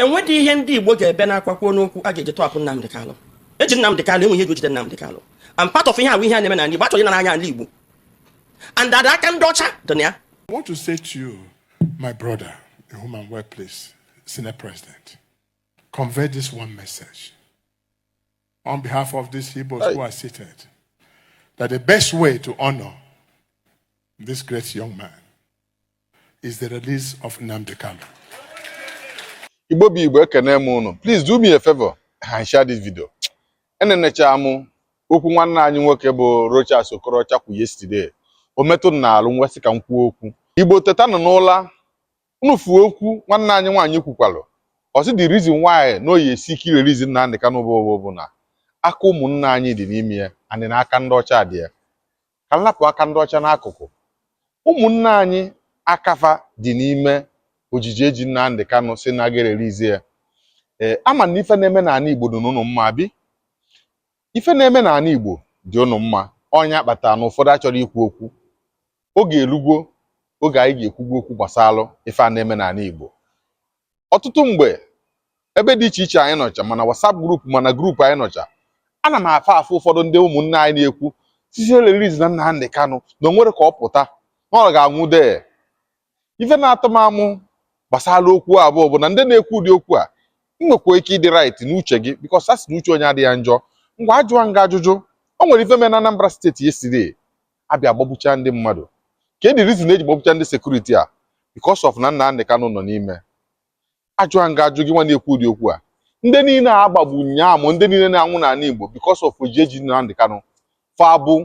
enwedị ihe ndị Igbo ga-ebe n'akwa kwuo n'okwu a ga-eji tọhapụ Nnamdị Kalụ eji Nnamdị Kalụ enweghị ihe e ji jide Nnamdị Kalụ and part of ihe ahụ ihe a na-eme n'ala Igbo achọghị ịnara anya ala Igbo and that aka ndị ọcha dị na ya I want to say to you, my brother, in whom I'm well pleased, Senate President, convey this one message on behalf of these Igbos who are seated that the best way to honor this great young man is the release of Nnamdi Kanu. Igbo bụ Igbo ekene m unu. Please do me a favor and share this video. Enenechaa m okwu nwanne anyị nwoke bụ Rochas Okorocha kwu yesterday. O metụ m n'alụ m wee sị ka m kwuo okwu. Igbo tetanụ n'ụla unu fụ okwu nwanne anyị nwaanyị kwukwalụ. Ọ sị the reason why na ọ ya-esi ike ịrelease Nnamdi Kanu bụ bụ na aka ụmụnne anyị dị n'ime ya and na aka ndị ọcha dị ya. ka m lapụ aka ndị ọcha n'akụkụ. Ụmụnne anyị aka fa dị n'ime ojiji eji Nnamdị Kanụ sị na a ga-erelease ya. Ee, ama m na ife na-eme n'ana Igbo dịnụ unu mma abi. Ife na-eme n'ana Igbo dị unu mma. Ọ nya kpatara na ụfọdụ achọrọ ikwu okwu. Oge elugo oge anyị ga-ekwube okwu gbasalụ ife a na-eme n'ana Igbo. ọtụtụ mgbe ebe dị iche iche anyị nọcha ma na WhatsApp group ma na group anyị nọcha ana m afụ afụ ụfọdụ ndị ụmụnne anyị na-ekwu sị sị ereleasena Nnamdi Kanu na o nwere ka ọ pụta na ọ ga-anwụ there ife na-atọ m amụ gbasara okwu a bụ bụ na ndị na-ekwu ụdị okwu a ị nwekwa ike ịdị right n'uche gị because a sị na uche onye adịghị njọ ngwa ajụwa m gị ajụjụ o nwere ife mere na Anambra state yesterday a bịa gbagbuchaa ndị mmadụ kedụ reason e ji gbagbucha ndị security a because of na Nnamdi Kanu nọ n'ime ajụjụ m ga-ajụ gị nwa na-ekwu ụdị okwu a ndị niile a gbagbu nyaa ma ndị niile na-anwụ n'ana Igbo because of ojiji e ji Nnamdi Kanu fa bụ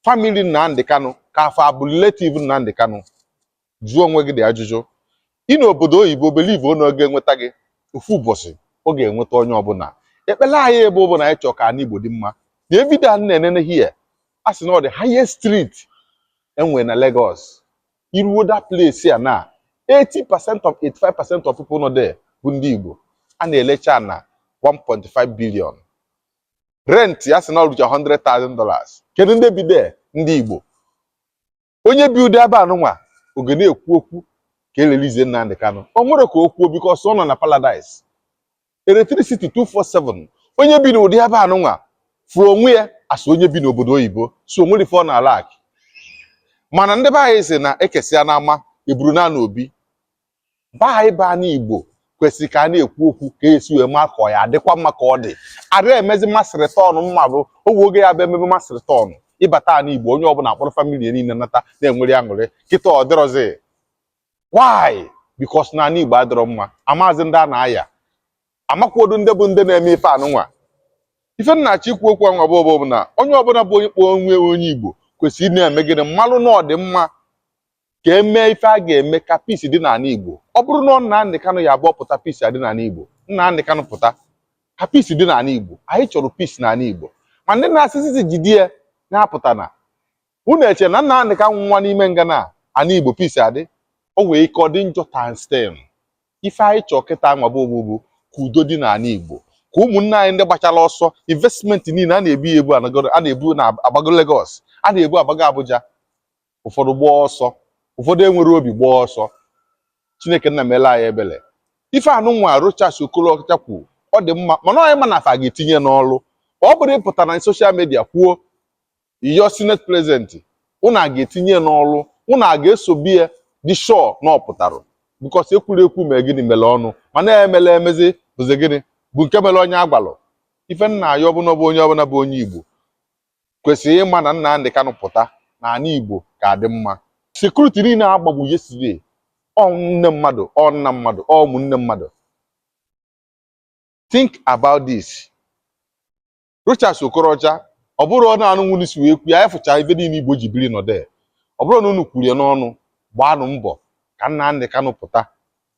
family Nnamdi Kanu ka fa bụ relative Nnamdi Kanu Jụọ onwe gị ụdị ajụjụ. Ị nọ obodo oyibo believe o na ọ ga-enweta gị? Ofu ụbọchị, ọ ga-enweta onye ọbụla. Ekpele anyị bụ bụ na anyị chọọ ka ana Igbo dị mma. Nee video a m na-enene here, a sị na ọ the highest street e nwere na Lagos. I ruo that place a na, 80 percent or 85 percent of people nọ there bụ ndị Igbo. A na-elecha ana 1.5 billion. Rent a sị na o rucha 100,000 dollars. Kedu ndị bi there? Ndị Igbo. onye bi ụdị ebe anụnwa ọ ga na-ekwu okwu ka e release Nnamdị Kanụ o nwere ka o kwuo because ọ nọ na paradise electricity 247 onye bi n'ụdị ebe anụnwa fụrụ onwe ya as onye bi n'obodo oyibo so o nwerọ ife ọ na-alack mana ndị be anyị sị na e kesịa n'ama e buru naa n'obi be anyị bụ ana Igbo kwesịrị ka a na-ekwu okwu ka esi wee maa ka ọ ya adịkwa mma ka ọ dị ada emezi mass return mma bụ o nwe oge ya bụ emebe mass return ịbata ana Igbo onye ọbụla akpọrọ family niile nata na-enwere aṅụrị kịta ọ dịrọzi why because na ana Igbo adịrọ mma amazi ndị a na-aya amakwodu ndị bụ ndị na-eme ife anụnwa ife m na-achọ ikwu okwu anwa bụ bụ na onye ọbụla bụ onye kpọọ onwe onye Igbo kwesịrị ịna-eme gịnị ịmalụ na ọ dị mma ka e mee ife a ga-eme ka peace dị n'ala Igbo ọ bụrụ na ọ Nnamdi Kanu ya-abụ ọ pụta peace adị n'ala Igbo Nnamdi Kanu pụta ka peace dị n'ala Igbo anyị chọrọ peace n'ala Igbo ma ndị na-asị sị jide ya na-apụta na unu eche na Nnamdi Kanu nwụa n'ime nga na ala Igbo peace adị o nwee ike ọ dị njọ times ten ife anyị chọọ kịta nwa bụ bụ ka udo dị n'ala Igbo ka ụmụnne anyị ndị gbachara ọsọ investment niile a na-ebu ya ebu a na-ebu na-agbago Lagos a na-ebu agbago Abuja ụfọdụ gbaa ọsọ ụfọdụ enwere obi gbaa ọsọ Chineke nna meelụ anyị ebele ife anụnwa Rochas Okorocha kwuo ọ dị mma mana onye ma na fa ga-etinye n'ọrụ ọ bụrọ ịpụta na social media kwuo ya senate president unu a ga-etinye n'ọrụ unu a ga-esobe ya dị sure na ọ pụtara because ekwurọ ekwu mee gịnị mere ọnụ mana emerọ emezi bụzi gịnị bụ nke mere onye a gwalụ ife m na-ayọ bụ na onye ọbụla bụ onye Igbo kwesịrị ịma na Nnamdi Kanu pụta na ana Igbo ga-adị mma. Security niile a gbagbu yesterday, ọ nne mmadụ, ọ nna mmadụ, ọ ụmụnne mmadụ. Think about this. Rochas Okorocha, ọ bụrụ na anụnwa unu si wee kwu ya, efụcha ife niile Igbo ji biri nọdee. Ọ bụrụ na unu kwuru ya n'ọnụ, gbaanụ mbọ ka Nnamdi Kanu pụta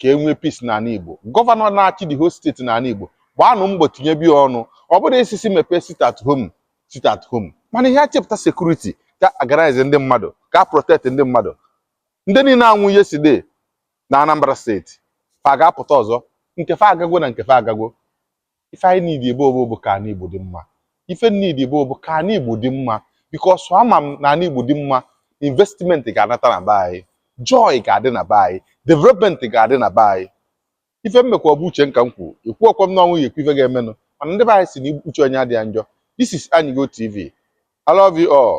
ka e nwee peace n'ala Igbo gọvanọ na-achị the whole steeti n'ala Igbo gbaanụ mbọ tinyebe ya ọnụ ọ bụrọ ịsị sị mepee sit at home sit at home mana ị ya-achịpụta security ga-organize ndị mmadụ ga-protect ndị mmadụ ndị niile anwụ yesterday na Anambra steeti fa ga-apụta ọzọ nke fa agagwo na nke fa agagwo Ife anyị need ebe a bụ ka ana Igbo dị mma. Ife need ebe a bụ ka ana Igbo dị mma because ama m na ana Igbo dị mma, investment ga-anata na be anyị, joy ga-adị na be anyị, development ga-adị na be anyị. Ife m mekwa ọ bụ uche m ka m kwuru. Ekwurọkwa m na ọ mụ ga-ekwu ife ga-emenụ mana ndị be anyị sị na uche onye adịghị njọ. This is Anyigo TV. I love you all.